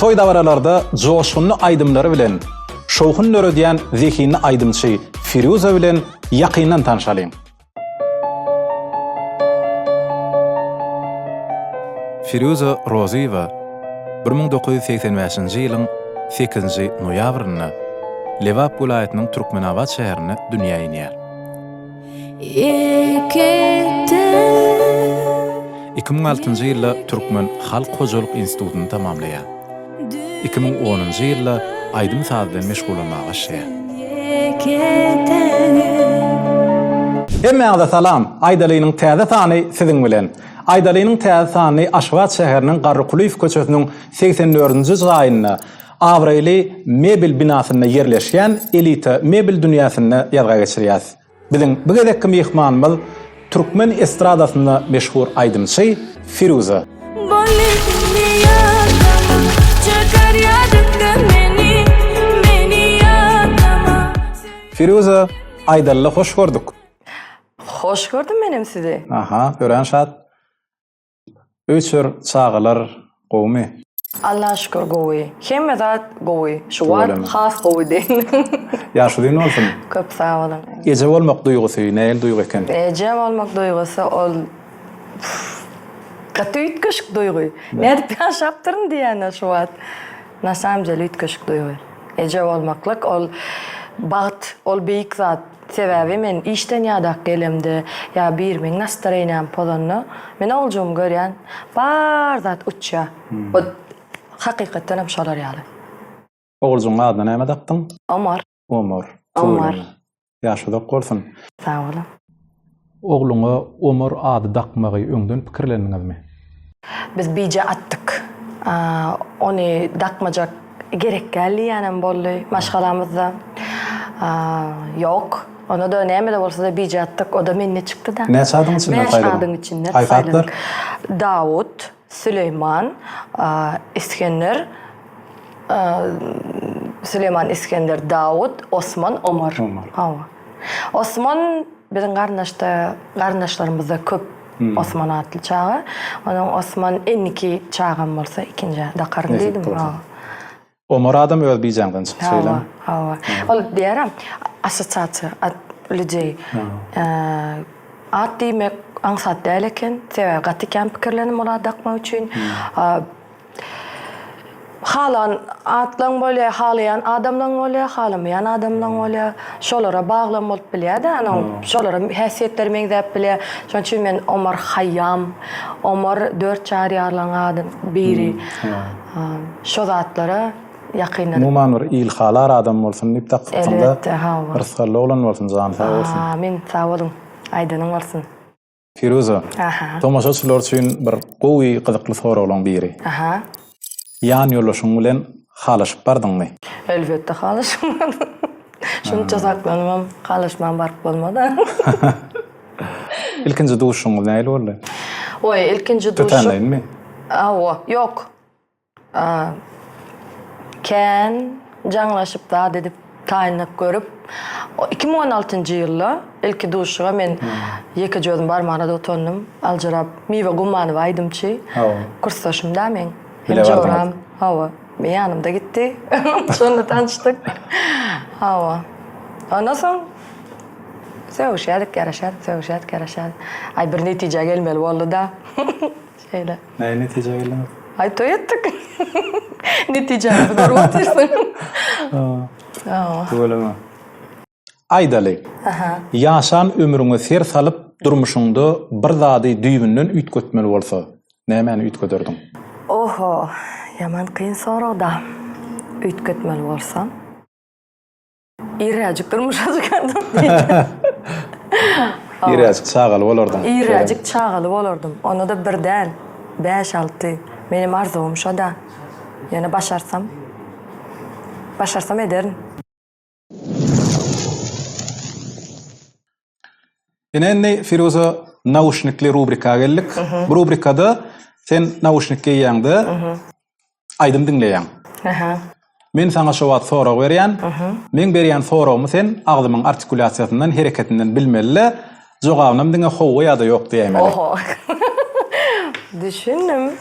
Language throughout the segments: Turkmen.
Toý-dabaralarda joşgunly aýdymlary bilen şowhun döredýän zehinli aýdymçy Firýuza bilen ýakyndan tanşalyň. Firýuza Rozyýewa bir müň dokuz ýüz segsen bäşinji ýylyň sekizinji noýabrynda Lebap welaýatynyň Türkmenabat şäherinde dünýä inýär. Iki müň altynjy ýylda Türkmen halk hojalyk institutyny tamamlaýar. Iki müň onunjy ýylda aýdym-saz bilen meşgullanmaga başlaýar. Hemmäňize salam! Aýdalynyň täze sany siziň bilen. Aýdalynyň täze sanyny Aşgabat şäheriniň Garrykulyýew köçesiniň segsen dördünji jaýynda, Abraýly mebel binasynda ýerleşýän Elita mebel dünýäsinde ýazga geçirýäs. Biziň bu gezekki myhmanymyz türkmen estradasynda meşhur aýdymçy Firuza. Firuza, Aýdaly hoş gördük. Hoş gördüm menem sizi. Aha, örän şat. Öýçer çagalar gowumy. Allaha şükür gowy. Hemme zat gowy. Şu wagt has gowy diýin. Ýaşy uzyn bolsun. Köp sag boluň. Eje bolmak duýgusy nähili duýgy eken? Eje bolmak duýgusy ol gaty üýtgeşik duýgy. Nädip ýaşapdyryn diýýän şu wagt. Na samom dele üýtgeşik duýgy. Eje bolmaklyk ol bagt, ol beýik zat. Sebäbi men işden ýadap gelemde ýa birimiň nastroýeniýany pozanda, men oguljygymy görýän, bar zat uçýar. Bu hakykatdanam şolar ýaly. Oguljygyň adyna näme dakdyň? Omar. Omar. Omar. Ýaşy uzak bolsun. Sag boluň. Ogluňa Omar ady dakmagy öňden pikirlendiňizmi? Biz bije atdyk. Ony dakmajak gerek däl diýýänem boldy maşgalamyzda. Ýok, ony-da näme-de bolsa-da bije atdyk. O-da mende çykdy-da. Näçe adyň içinden saýladyň? Bäş adyň içinden saýladyk. Aý, Dawut. Süleýman Isgender Süleýman Isgender Dawut Osman Omar Hawa Osman biziň garyndaşda garyndaşlarymyzda köp Osman atly çaga onuň Osman endiki çagam bolsa ikinji Dakarly diýdim Hawa. Omar adam öz bijaňdan çykdy şeýlemi? Hawa, hawa. Ol diýýärem, assosiasiýa, at, lüdeý. At diýmek aňsat däl eken, sebäbi gaty kän pikirlenim ol at dakmak üçin. Halan atlaň bolýar, halaýan adamlaň bolýar, halamaýan adamlaň bolýar. Şolara baglam bolup bilýär-de, onuň şolara häsiýetleri meňzäp bilýär. Şonuň üçin men Omar Haýýam, Omar dört çar ýarlaň adam biri. Şo zatlara ýakynda. Umuman bir ilhalar adam bolsun diýip dakdypsyňda. Elbetde hawa. Rysgally oglan bolsun jany sag bolsun. Amin sag boluň aýdanyň bolsun. Firuza. Aha. Tomaşaçylar üçin bir gowy gyzykly soraglaň biri. Aha. Ýan ýoldaşyň bilen halaşyp bardyňmy? Elbetde halaşyp bardym. Şunça saklanybam halaşman baryp bolmada. Ilkinji duşuňyz nähili boldy? Oý, ilkinji duşum. Tötänleýinmi? Awa, ýok. Kän jaňlaşyp zat edip taýynlyk görüp, iki müň on altynjy ýylda ilki duşuga men ýekeje özüm barmana da utandym, aljyrap, Miwe Gummanowa aýdymçy, kursdaşym-da meň, hem joram, hawa. Men ýanymda gitdi. Şonda tanşdyk. Hawa. Ondan soň sögüşýärdik, garaşýardyk, sögüşýärdik, garaşýardyk. Aý bir netijä gelmeli boldy-da. Şeýle. Näme netijä geldiňiz? Aý toý etdik. Netijäni görüp otyrsyň. Hawa. Hawa. Tüweleme. Aýdaly, ýaşan ömrüňe ser salyp, durmuşyňda bir zady düýbünden üýtgetmeli bolsa, nämäni üýtgederdiň? Oho, ýaman kyn sorag-da. Üýtgetmeli bolsam, irräjik durmuşa çykardym diýdim. Irräjik çagaly bolardyň. Irräjik çagaly bolardym. Onda-da bir däl, bäş-alty. Meniň arzuwym şo-da. Ýöne başarsam, başarsam ederin. Ine indi Firuza nauşnikli rubrika geldik. Bu rubrikada sen nauşnik geýýäňde aýdym diňleýäň. Aha. Men saňa şu wagt sorag berýän. Men berýän soragymy sen agzymyň artikulýasiýasyndan, hereketinden bilmeli. Jogabynam diňe howwa ýa-da ýok diýäýmeli. Oho. Düşündim.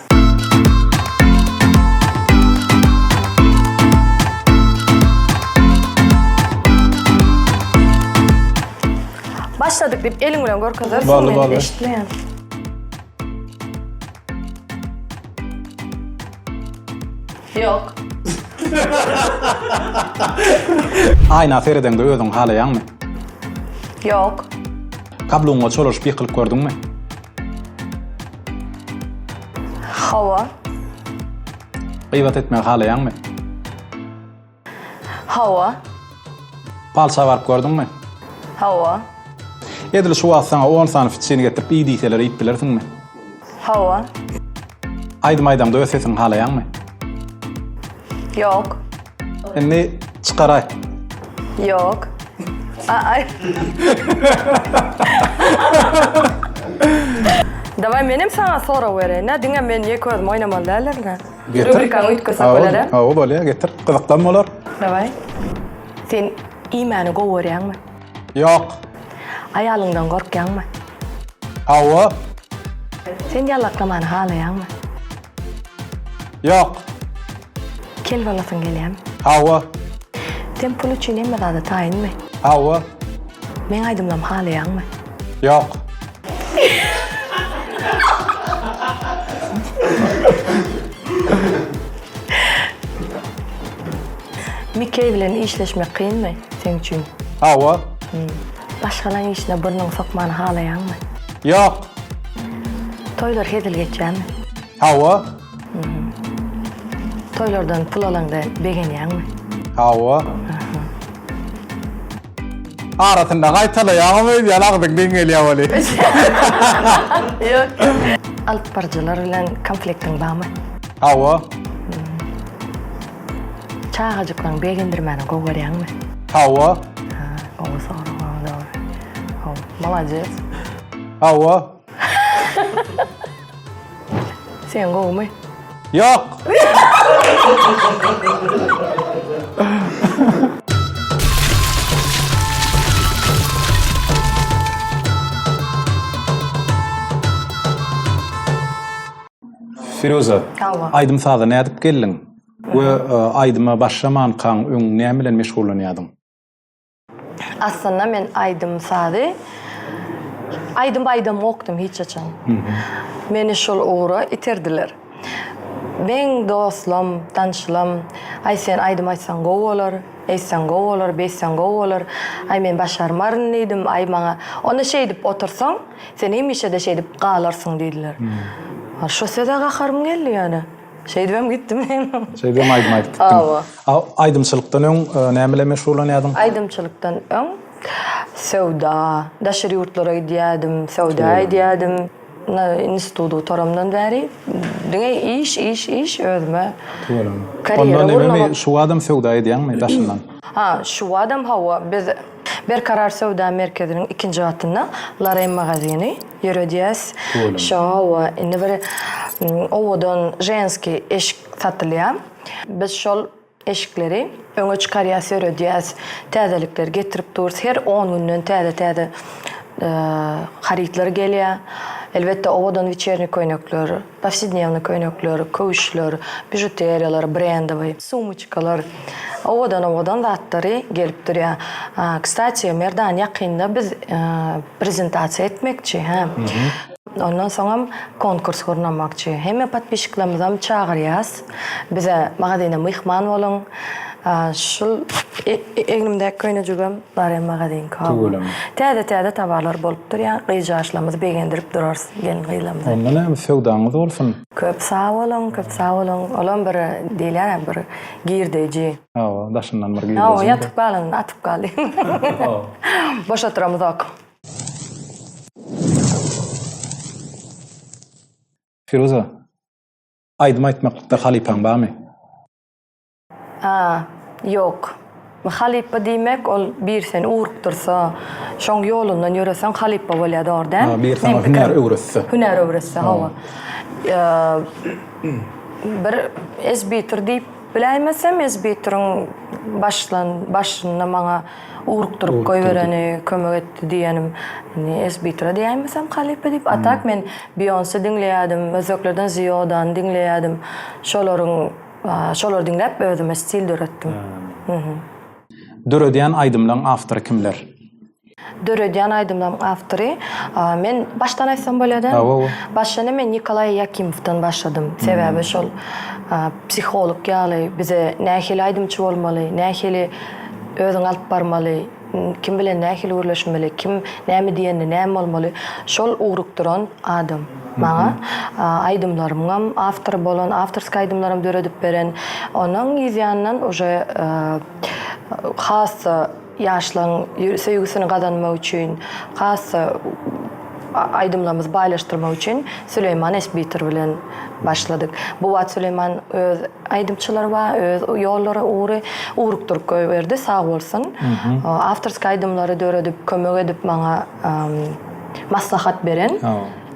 Başladyk diýip eliň bilen görkezersiň. Boldy, boldy. Eşitmeýän. Ýok. Aýna seredeňde özüňi halaýaňmy? Ýok. Kabluňa çolaşyp ýykylyp gördüňmi? Hawa. Gybat etmegi halaýaňmy? Hawa. Palça baryp gördüňmi? Hawa. Edil şu wagt saňa on sany fitçini getirip iý diýseler iýip bilersiňmi? Hawa. Aýdym aýdaňda öz sesiňi halaýaňmy? Ýok. Indi çykar aýt. Ýok. Aý. Daway menem saňa sorag bereýin-ä, diňe men ýeke özüm oýnamaly däldirin-ä. Getir. Rubrikany üýtgesek bolar-a? Hawa, bolýar, getir. Gyzyklam bolar. Daway. Sen iýmäni gowy görýäňmi? Ýok. Aýalyňdan gorkýaňmy? Hawa. Sen ýallaklamany halaýaňmy? Ýok. Kel bolasyň gelýärmi? Hawa. Sen pul üçin hemme zada taýynmy? Hawa. Meň aýdymlarymy halaýaňmy? Ýok. Mikeý bilen işleşmek kynmy seň üçin? Hawa. Başgalaň işine burnuňy sokmany halaýaňmy? Ýok. Toýlar hezil geçýärmi? Hawa. Toýlardan pul alaňda begenýäňmi? Hawa. Arasynda gaýtalaýaňam öýdýän agzyň deňelýä weli. Ýok. Alyp baryjylar bilen konfliktiň barmy? Hawa. Çagajyklaryňy begendirmäni gowy görýäňmi? Hawa. Gowy sorag, gowy dogry. Gowy. Molades. Hawa. Sen gowmy? Ýok. Firuza, Hawa. aýdym saza nädip geldiň? We e, aýdyma başlamankaň öň näme bilen meşgullanýardyň? Aslynda men aýdym sazy aýdym aýdamokdym hiç haçan. Meni şol ugra iterdiler. Meň dostlam, tanşlam, Aý sen aýdym aýtsaň gowy bolar, eýtseň gowy bolar, beýtseň gowy bolar, aý men başarmaryn diýdim, aý maňa onda şeýdip otursaň, sen hemişe-de şeýdip galarsyň diýdiler. Şo söze gaharym geldi ýöne. Şeýdibem gitdim men. Şeýdibem aýdym aýdyp gitdim. Hawa. A aýdymçylykdan öň e, näme bilen meşgullanýardyň? Aýdymçylykdan öň söwda, daşary ýurtlara gidýärdim, söwda edýärdim. Na instituty gutaramdan bäri diňe iş, iş, iş özüme. Tüweleme. Karýera Ondan gurnamak. ememi şu adam söwda edýäňmi daşyndan? Ha, şu badam hawa biz Berkarar söwda merkeziniň ikinji gatynda Larem magazini. Ýöredýäs. Şowa indi bir owadan ženskiý eşik satylýar. Biz şol eşikleri öňe çykarýas, ýöredýäs. Täzelikleri getirip durus. Her on günden täze-täze harytlar gelýär. Elbetde owadan wiçerni köýnekler. Powsednewnyý köýnekler, köwüşler, bižuteriýalar, brendowyý, sumoçkalar, owadan-owadan zatlary gelip durýar. Kstatiý, Merdan, ýakynda biz prezentasiýa etmekçi, hä. Ondan soňam konkurs gurnamakçy. Hemme podpisçiklermizem çagyrýas. Bize magazyna myhman boluň. Şul egnimdäki köýnejigem Barem magazynyňky. Tüweleme. Täze täze towarlar bolup durýar. Gyzjaşlarymyzy begendirip durarys gelin gyzlarymyzy. Onda näme söwdaňyz bolsun. Köp sag boluň, köp sag boluň. Olam bir diýilýär-ä bir girdeji. Hawa, daşyndan bir girdeji. Hawa, ýatyp galanda atyp galýar. Boş oturamyzok. Firuza. Aýdym aýtmaklykda halypaň barmy? Aa, ýok. Halypa diýmek, ol bir seni ugrukdyrsa, şoň ýolundan ýöreseň halypa bolýar, dogry däl? Aa, bir saňa hünär öwretse. Hünär öwretse, hawa. Bir ezbitur diýip biläýmesem, ezbituriň başlan, başynda maňa. Ugrukdyryp goýbereni kömek etdi diýenim. Indi Esbitra diýäýmesem halypa diýip. A tak men Bionse diňleýärdim, özbeklerden Ziyodany diňleýärdim. Şolaryň şolary diňläp özüme stil döretdim. Döredýän aýdymlaň awtory kimler? Döredýän aýdymlaryň awtory men başdan aýtsam bolýada. Başlanda men Nikolaý Ýakimowdan başladym. Sebäbi şol psiholog ýaly bize nähili aýdymçy bolmaly, nähili Özüňi alyp barmaly, kim bilen nähili gürleşmeli, kim näme diýende näme bolmaly, şol ugrukdyran adam. Maňa aýdymlarymyňam awtory bolan, awtorskiý aýdymlaram döredip beren, onuň yz ýanyndan uje has-da ýaşlaryň söýgüsini gazanmak üçin, has-da Aýdymlarymyzy baýlaşdyrmak üçin Süleýman Esbiter bilen başladyk. Bu wagt Süleýman öz aýdymçylary bar, öz ýollary, ugry ugrukdyryp goýberdi, sag bolsun. Awtorski aýdymlary döredip, kömek edip maňa maslahat beren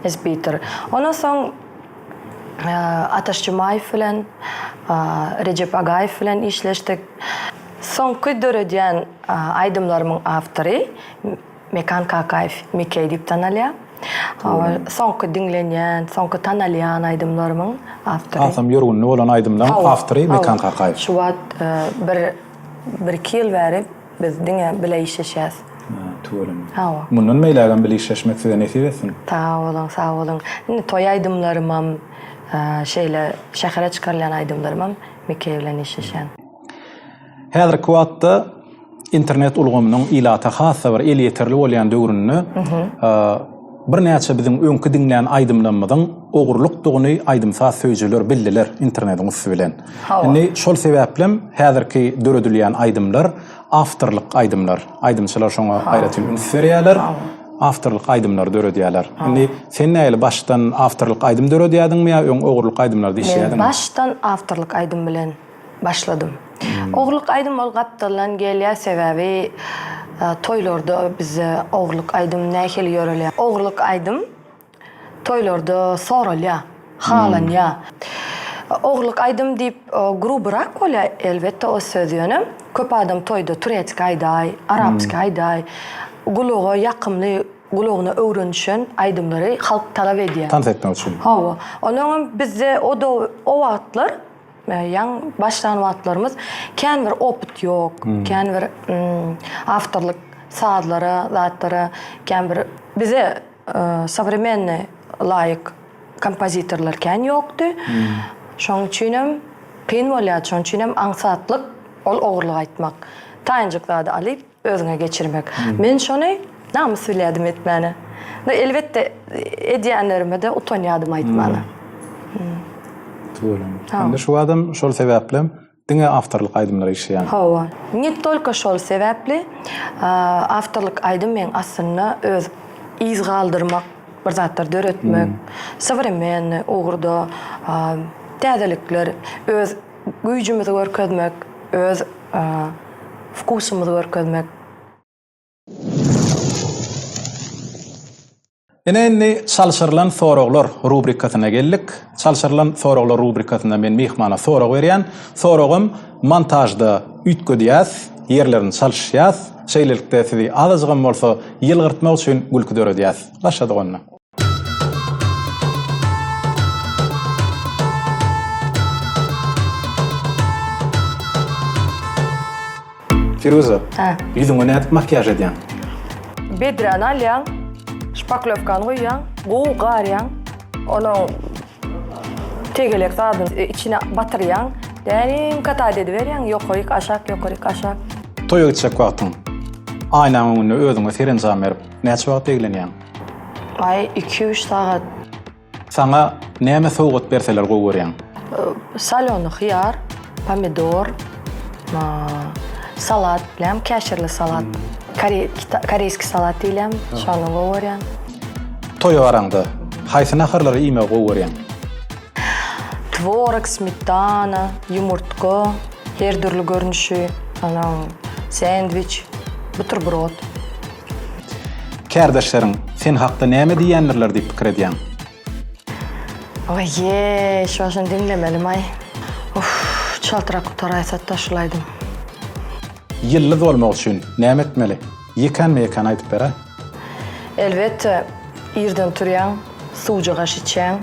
Esbiter. Ondan soň Ataş Jumaýew bilen, Rejep Agaýew bilen işleşdik. Soňky döredýän aýdymlarymyň awtory. Mekan Kakaýew Mekey diýip tanalýar. Soňky diňlenýän, soňky tanalýan aýdymlarymyň awtory. Hasam ýörgünli bolan aýdymlaryň awtory Mekan Kakaýew. Şu wagt bir bir-iki ýyl bäri biz diňe bile işleşýäs. Tüweleme. Hawa. Mundan beýlägem bile işleşmek size nesip etsin. Sag boluň, sag boluň. Indi toý aýdymlarymam, şeýle şähere çykarylýan aýdymlarymam Mekey bilen işleşýän. Häzirki wagtda internet ulgamynyň ilata has-da bir elýeterli bolýan döwründe birnäçe biziň öňki diňlän aýdymlarymyzyň ogurlykdygyny aýdym-saz söýüjiler bildiler internetiň üsti bilen. Indi şol sebäplem häzirki döredilýän aýdymlar awtorlyk aýdymlar. Aýdymçylar şoňa aýratyn üns berýärler. Awtorlyk aýdymlary döredýärler. Indi sen nähili başdan awtorlyk aýdym döredýärdiňmi ýa öň ogurlyk aýdymlarda işleýärdiňmi? Men başdan awtorlyk aýdym bilen. başladym. Hmm. Ogurlyk aýdym ol gapdaldan gelýär, sebäbi e, toýlarda bizde ogurlyk aýdym nähili ýörelýär? Ogurlyk aýdym toýlarda soralýar, halanýar. Hmm. Ogurlyk aýdym diýip e, grubrak bolýar, elbetde o söz ýöne köp adam toýda turetski aýdaý, arapski hmm. aýdaý, gulaga ýakymly gulagyna öwrenişen aýdymlary halk talap edýär. Tans etmek üçin. Hawa. Onuň bizde o o wagtlar Ýaň başlan wagtlarymyz kän bir opyt ýok, kän bir awtorlyk sazlara, zatlara, kän bir bize sowremennoý laýyk kompozitorlar kän ýokdy. Şoň üçinem kyn bolýardy, şoň üçinem aňsatlyk ol ogurlyk aýtmak. Taýynjyk zady alyp, Özüňe geçirmek. Men şony namys bilýärdim etmäne. Ve elbetde edýänlerime de utanýadym aýtmana. Tuweleme. Indi şu badam şol sebäpli diňe awtorlyk aýdymlar eşidýän. Hawa. Ne tolko şol sebäpli awtorlyk aýdym men aslynda öz yz galdyrmak bir zatlar döretmek, sowremennoý ugurda täzelikler öz Güýjümizi görkezmek, öz wkusymyzy görkezmek. Ine indi Çalşyrylan soraglar rubrikasyna geldik. Çalşyrylan soraglar rubrikasynda men myhmana sorag berýän. Soragym montažda üýtgedýäs, ýerlerini çalyşýas. Şeýlelikde sizi azajygam bolsa ýylgyrtmak üçin gülki döredýäs. Başladyk onda. Firuza. Hä. Ýüzüňe nädip makiýaž edýäň? Bedräni alýaň, şpaklewkany goýýaň, gowy garýaň. Onuň tegelek zadyny e, içine batyrýaň. Däniň katad ediberýäň, ýokaryk, aşak, ýokaryk, aşak. Toýa gitjek wagtyň. Aýnaň öňünde özüňe serenjam berip, näçe wagt eglenýäň? Aý iki üç sagat. Saňa näme sowgat berseler gowy görýäň? Salony hyýar, pomidor, salat bilen, käşirli salat, koreýski salat diýilýän, şony gowy görýän. Toýa baraňda, haýsy naharlary iýmegi gowy görýäň? Tworog, smetana, ýumurtga, her dürli görnüşi, onuň sendwiç, buterbrod. Kärdeşleriň sen hakda näme diýýändirler diýip pikir edýäň? Oýeý, şu başdan diňlemelimaý. Uff, çaltrak gutaraýsatda şul aýdym. Ýyldyz bolmak üçin näme etmeli? Ýekänme-ýekän aýdyp ber-ä. Elbetde, irden turýaň, suwja gaş içýäň.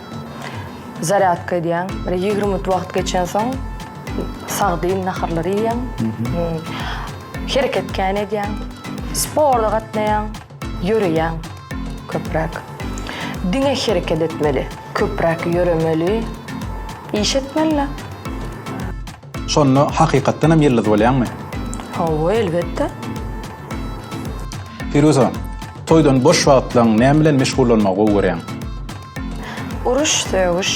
Zarýadka edýäň. Bir ýigrimi minut wagt geçensoň sagdyn naharlary iýýäň. Hereket kän edýäň. Sporta gatnaýaň. Ýöreýäň köpräk. Diňe hereket etmeli. Köpräk ýöremeli. Iş etmeli. Şonda hakykatdan hem ýyldyz bolýaňmy? Hawa, elbetde. Piruza, toýdan boş wagtlaň näme bilen meşgullanmagy gowy görýäň? Uruş, sögüş.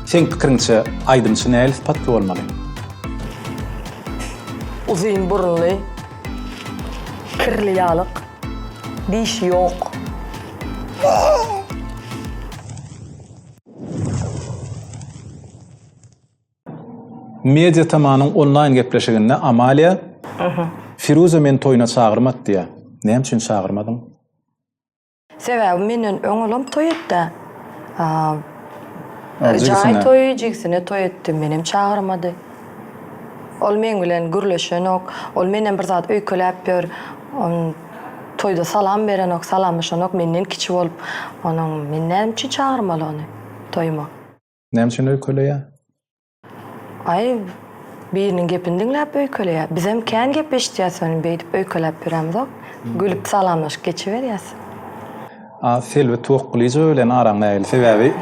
Seň pikiriňçe, aýdymçy nähili sypatly bolmaly? Uzyn burunly, kirli ýalyk, dişi ýok. Media TM-nyň onlaýn gepleşiginde Amalia, Firuza meni toýuna çagyrmady diýýär. Näme üçin çagyrmadyň? Sebäbi menden öň olam toý etdi. Jaý toýy, jigisine toý etdi. Menem çagyrmady. Ol meň bilen gürleşenok. Ol menden bir zat öýkeläp ýör. Toýda salam berenok, salamlaşanok, menden kiçi bolup, onuň men näme üçin çagyrmaly ony toýuma? Näme üçin öýkeleýär? Aý, biriniň gepini diňläp öýkeleýär. Bizem kän gep eşitýäs onuň, beýdip öýkeläp ýörämzok. Gülüp salamlaşyp geçiberýäs. A Selbi Tuwakgulyjowa bilen araň nähili? Sebäbi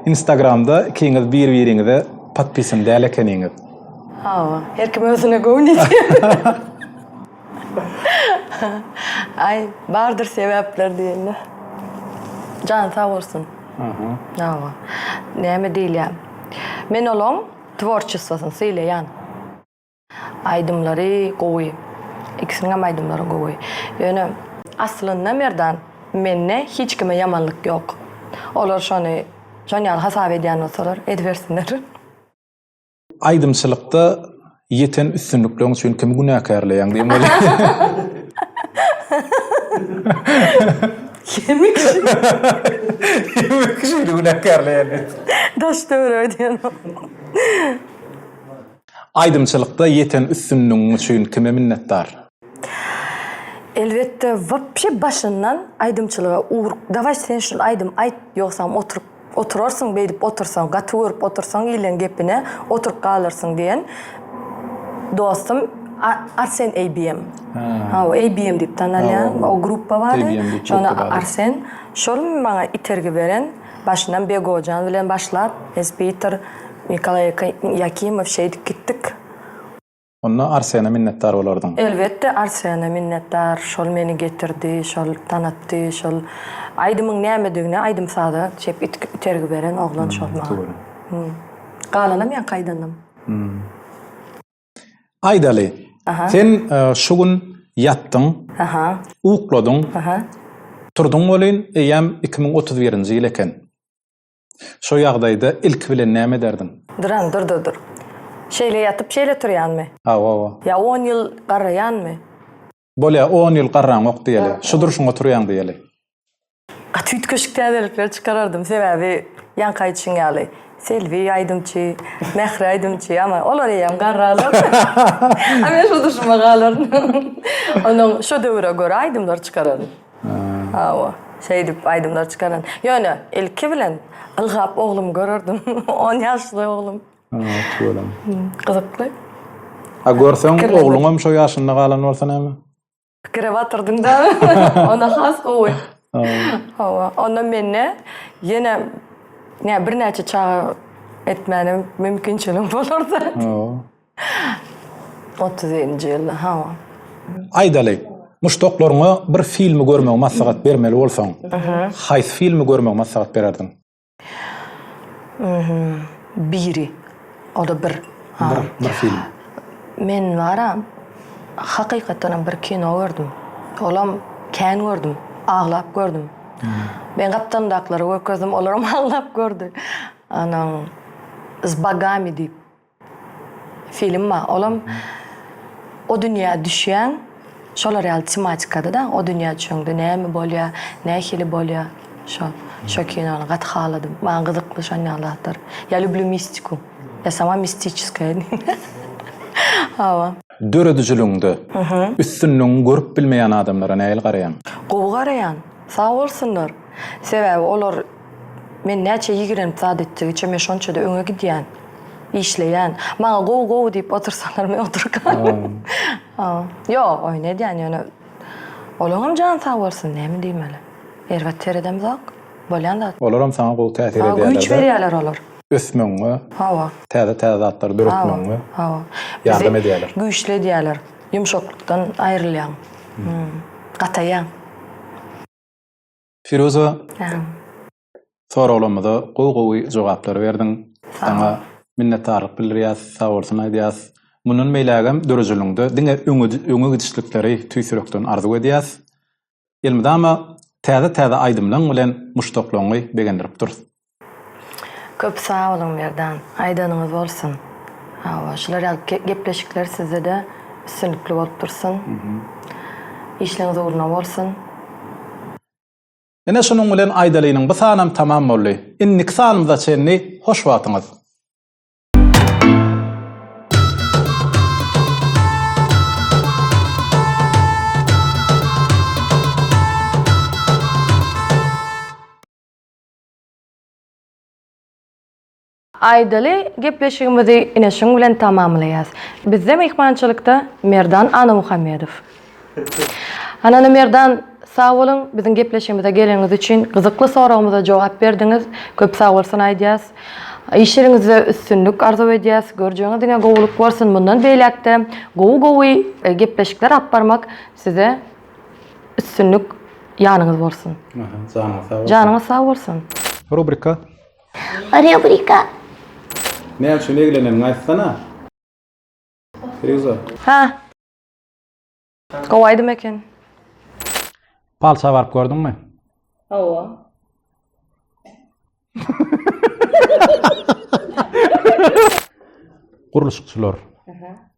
Instagramda ikiňiz bir-biriňize podpisan däl ekeniňiz. Hawa, her kim özüne göwni ýetýär. Aý, bardyr sebäpler diýende. Jany sag bolsun. Aha. Hawa. Näme diýilýär? Men olaň tworçestwosyny sylaýan. Aýdymlary gowy. Ikisiniň hem aýdymlary gowy. Ýöne aslynda Merdan, mende hiç kime ýamanlyk ýok. Olar şony şon ýaly hasap edýän bolsalar, edibersinler. Aýdymçylykda ýeten üstünlikleriň üçin kimi günäkärleýäň diýen bolýar. Kimi kişi? Kimi kişi günäkärleýän? Daş döwür öýdýän. Aýdymçylykda ýeten üstünligiň üçin kime minnetdar? Elbetde wapşe başyndan aýdymçylyga ugruk daway sen şul aýdym aýt ýogsam oturyp oturarsyň beýdip otursaň gaty görüp otursaň ileň gepine oturyp galarsyň diýen dostum Arsen ABM hawa ABM diýip tanalýan o gruppa bary şony Arsen şol maňa itergi beren başyndan Begojan bilen başlap Esbitor Nikolaý Ýakimow şeýdip gitdik. Onda Arsene minnetdar bolardyň. Elbetde Arsene minnetdar, şol meni getirdi, şol tanatdy, şol aýdymyň nämedigine aýdym-saza çep itergi beren oglan şol maňa. Togry. Galanam ýaňky aýdanam. Aýdaly, sen şu gün ýatdyň, ukladyň, turduň welin eýýäm iki müň otuz birinji ýyl eken. Şo ýagdaýda ilki bilen näme ederdiň? Duran, dur-dur-dur. Şeýle ýatyp, şeýle turýanmy? Hawa-wa. Ýa on ýyl garraýanmy? Bolýa, on ýyl garraňok diýeli. Şu durşuňa turýaň diýeli. Gaty üýtgeşik täzelikler çykarardym, sebäbi ýaňky aýdyşyň ýaly, Selbi aýdymçy, Mähri aýdymçy, ama olar eýýäm garralar. A men şu durşuma galardym. Onnoň şo döwüre görä aýdymlar çykarardym. Hawa, şeýdip aýdymlar çykaran. Ýöne ilki bilen ylgap oglumy görerdim. On ýaşly oglum. Hawa, tüweleme. Gyzykly. A görseň, ogluňam şo ýaşynda galan bolsa näme? Pikire batyrdyň da. Onda has gowy. Hawa. Onda mende ýene birnäçe çaga etmäne mümkinçiligim bolardy. Hawa. Otuz ýedinji ýylda, hawa. Aýdaly, muşdaklaryňa bir filmi görmegi maslahat bermeli bolsaň, haýsy filmi görmegi maslahat bererdiň? Biri, o-da bir. Bir, bir film. Men bar-a, hakykatdanam bir kino gördüm. Olam kän gördüm, aglap gördüm. Men gapdalymdaklara görkezdim, olaram aglap gördi. Onuň Zbagami diýip. Film ba, olam o dünýä düşýäň, şolar ýaly tematikada-da, o dünýä düşeňde näme bolýar, nähili bolýar, şo, şo kinony gaty haladym. Maňa gyzykly şon ýaly zatlar. Ýa lüblü mistiku. Ýa sama mistiçeskaýa diýen. Hawa. Döredijiligiňde üstünligiňi görüp bilmeýän adamlara nähili garaýaň? Gowy garaýan. Sag bolsunlar. Sebäbi olar Men näçe ýigrenip zat etdigiçe men şonça-da öňe gidýän, işleýän. Maňa gowy-gowy diýip otursalar men oturyp galyň. Ýok, oýun edýän ýöne olaňam jany sag bolsun, näme diýmeli. Erbet seredemzok. Bolýan zat. Olaram saňa gowy täsir edýärler. Hawa, güýç berýärler olar. Ösmegiňe. Hawa. Täze-täze zatlary döretmegiňe. Hawa. Ýardam edýärler. Güýçli edýärler. Ýumşaklykdan aýrylýaň. Gataýaň. Firuza, soraglarymyza gowy-gowy jogaplary berdiň. Saňa minnetdarlyk bildirýäs, sag bolsun aýdýas. Mundan beýlägem dörejiligiňde diňe öňe gidişlikleri tüýs ýürekden arzuw edýäs. Elmydama täze-täze aýdymlaryň bilen muşdaklaryňy begendirip durus. Köp sag boluň Merdan. Aýdanyňyz bolsun. Hawa, şular ýaly gepleşikler sizde-de üstünlikli bolup dursun. Işleňiz ugruna bolsun. Ine şunuň bilen aýdalynyň bu sanam tamam boldy. Indiki sanymyza çenli hoş wagtyňyz. Aýdaly, gepleşigimizi ine şuň bilen tamamlaýas. Bizde myhmançylykda Merdan Annamuhammedow. Hanana Merdan, sag boluň, biziň gepleşigimize geleniňiz üçin, gyzykly soragymyza jogap berdiňiz. Köp sag bolsun aýdýas. Iş ýeriňizde üstünlik arzuw edýäs. Görjegiňe diňe gowulyk bolsun. Mundan beýläk-de gowy-gowy gepleşikler alyp barmak size Üstünlik ýanyňyz bolsun. Janyňyz sag bolsun. Janyňyz sag bolsun. Rubrika. Rubrika. Ne üçin egleneniňi aýtsana. Firuzä. Ha. Gowy aýdym eken. Palça baryp gördüňmi? Hawa. Gurluşykçylar. Aha.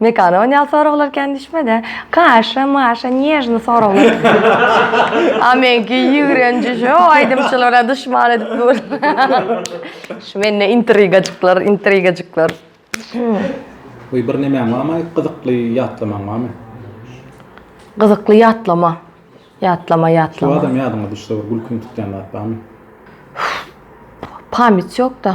Mekana onýal soraglar kändiçme-dä. Kaşa, maşa, nježny soraglar. A meňki ýigrenji şo aýdymçylara duşman edip dur. Şu mende intrigajyklar, intrigajyklar. Goý bir nemäň barmy gyzykly ýatlamaň barmy? Gyzykly ýatlama. Ýatlama, ýatlama. Şobadam ýadyňa düşse bir gülkiň tutýan zat barmy? Pamýt ýok-da.